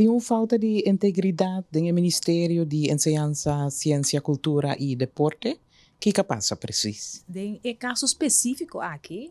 Tin un fouta di integridat den e Ministerio di Enseñansa, Siensia, Kultura i Deporte. Kiko a pasa presis? Den e kaso spesífiko aki,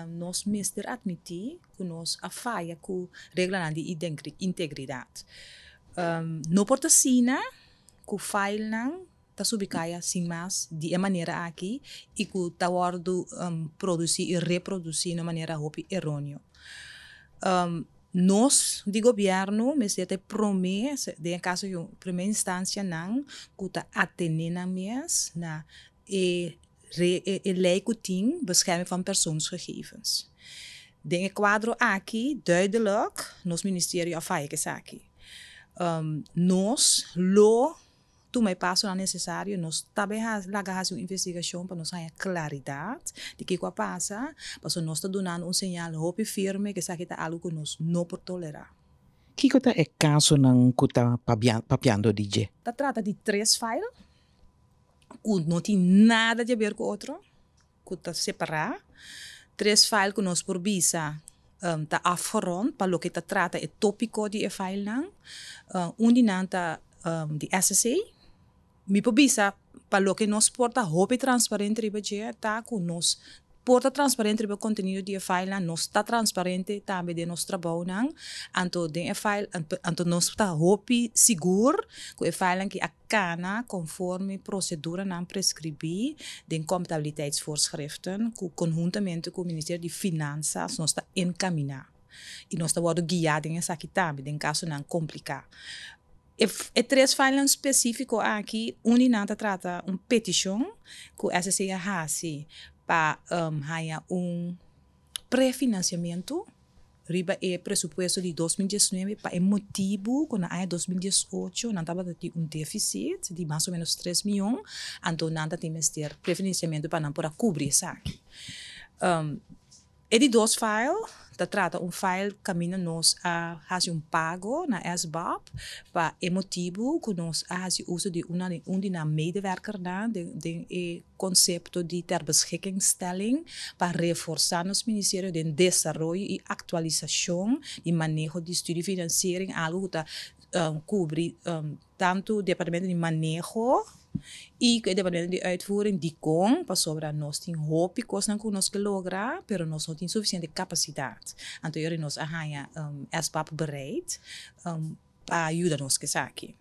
Nos mester atmití ku nos a faya ku reglanan di integridat. No por ta asina ku failnan ta subi kaya sin mas di e manera aki i ku ta wòrdu produsí i reprodusí na un manera hopi eróneo. Nos di gobièrnu mester ta e promé, den e kaso promé instanshanan ku ta atené nan mes na e e lei ku tin bescherming van persoonsgegevens. Den e kuadro aki duidelijk nos ministerio a faya ku esaki. Nos lo tuma e pasonan nesesario, nos ta bin laga hasi un investigashon pa nos haña klaridat di kiko a pasa, pasobra nos ta dunando un señal hopi firme ku esaki ta algu ku nos no por tolerá. Kiko ta e kasonan ku ta papiando di dje? Ta trata di tres file. cu no tin nada di a ber cu otro, cu ta separa, tres file cu nos por bisa ta afgerond pa loke ta trata e topico di e filenan, un di nan ta di ssa, mi por bisa pa loke nos por ta hopi transparente riba dje ta cu nos por ta transparente riba e contenido di e filenan, nos ta transparente tambe den nos trabaonan, anto den e file anto nos ta hopi sigur cu e filenan aki a Cana conforme proceduranan prescribi den comptabiliteitsvoorschriften cu conhuntamente cu Ministerio di Finanzas nos ta encamina y nos ta wordo guia den esaki tambe den casonan complica. E tres filenan specifico aki un di nan ta trata un peticion cu SCC a haci pa haya un prefinanciamento. Riba e presupuesto di dos mil diesnuebe, pa e motibu ku na aña dos mil diesocho nan tabata tin un defisit di mas o menos tres mion, anto nan ta tin mester prefinansiamentu pa nan por a kubri esaki. E di dos file ta trata un file kaminda nos a hasi un pago na SBOP pa e motibu ku nos a hasi uso di un di nan medewerkernan den e Konsepto di terbeschikkingsstelling pa reforsá nos ministerio den desaroyo i aktualisashon di maneho di studi finansiering, algu ku ta kubri tantu departamento di maneho i ku e departamento di uitvoering, Dicon, pasobra nos tin hopi kosnan ku nos ke logra pero nos no tin sufisiente kapasidat. Anto yori nos a haña SBAP bereid pa yuda nos ku esaki.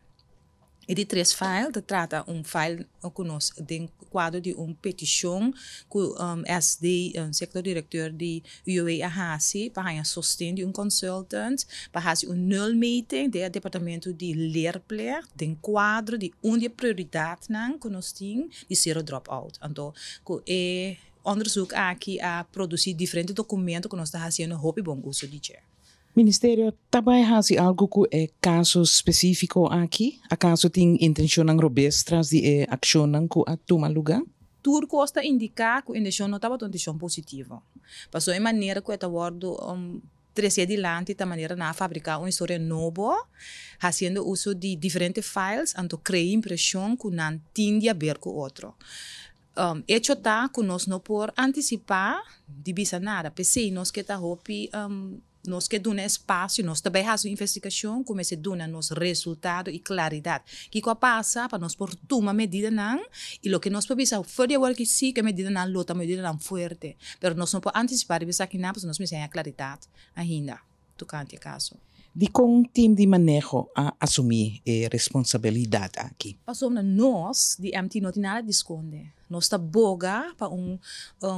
E di tres file ta trata un file ku nos den kuadro di un petishon ku SD Sector Directeur di UWV a hasi pa haña sosten di un consultant pa hasi un nulmeting den e departamento di leerplek den kuadro di un di e prioridatnan ku nos tin di Zero Dropout. Anto ku e onderzoek aki a produsi diferente dokumento ku nos ta hasiendo hopi bon uso di dje. Ministerio ta bai hasi algu ku e kasos spesífiko aki? Akaso tin intenshonnan robes tras di e akshonnan ku a tuma lugá? Tur kos ta indiká ku inteshon no tabata un inteshon positivo. Pasobra e manera ku e ta wòrdu tresé dilanti ta manera nan a fabriká un historia nobo, hasiendo uso di diferente files, anto krea impreshon ku nan tin di haber ku otro. Echo ta cu nos no por anticipa di bisa nada, p'esey nos ke ta hopi, nos ke duna espacio, nos ta bay haci un investigacion cu mester duna nos resultado y claridad kico a pasa pa nos por tuma medidanan y loke nos por bisa for di awor aki si cu e medidanan lo ta medidanan fuerte, pero nos no por anticipa riba esakinan pasobra nos mester haña claridad ainda. tokante e kaso. Dikon Tim di Maneho a asumí e responsabilidat aki? Pasobra nos di MT no tin nada di skonde. Nos ta boga pa un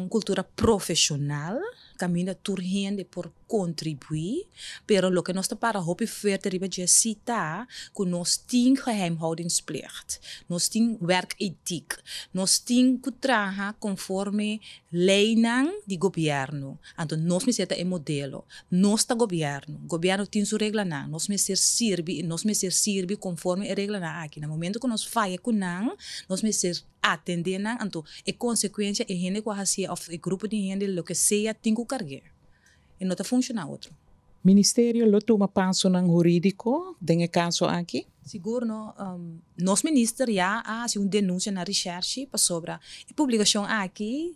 kultura profeshonal kaminda tur hende por kontribuí, pero loke nos ta para hopi fuerte riba djesí ta ku nos tin geheimhoudingsplicht, nos tin wèrketiek, nos tin ku traha konforme leinan di gobièrnu, Anto nos mester ta e modelo. Nos ta gobierno. Gobierno tin su reglanan. Nos mester sirbi i nos mester sirbi conforme e reglanan aki. Na momento cu nos faya cu nan, nos mester atende nan. Anto e consecuencia e hende cu a haci'e of e grupo di hende loke sea tin cu carg'e. E no ta funciona otro. Ministerio lo tuma pasonan huridico den e caso aki? Sigur no. Nos minister ya a haci un denuncia na Recherche pasobra e publicacion aki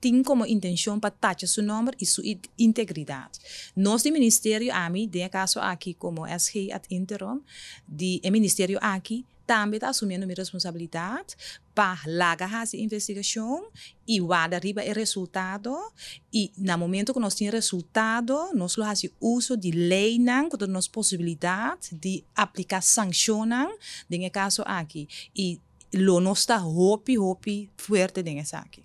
tin komo intenshon pa tacha su nòmber i su integridat. Nos di ministerio, ami den e kaso aki komo SG ad interim di e ministerio aki, tambe ta asumiendo mi responsabilidat pa laga hasi e investigashon i warda riba e resultado i na momento ku nos tin resultado nos lo hasi uso di leinan ku ta nos posibilidat di apliká sankshonnan den e kaso aki i lo nos ta hopi hopi fuerte den esaki.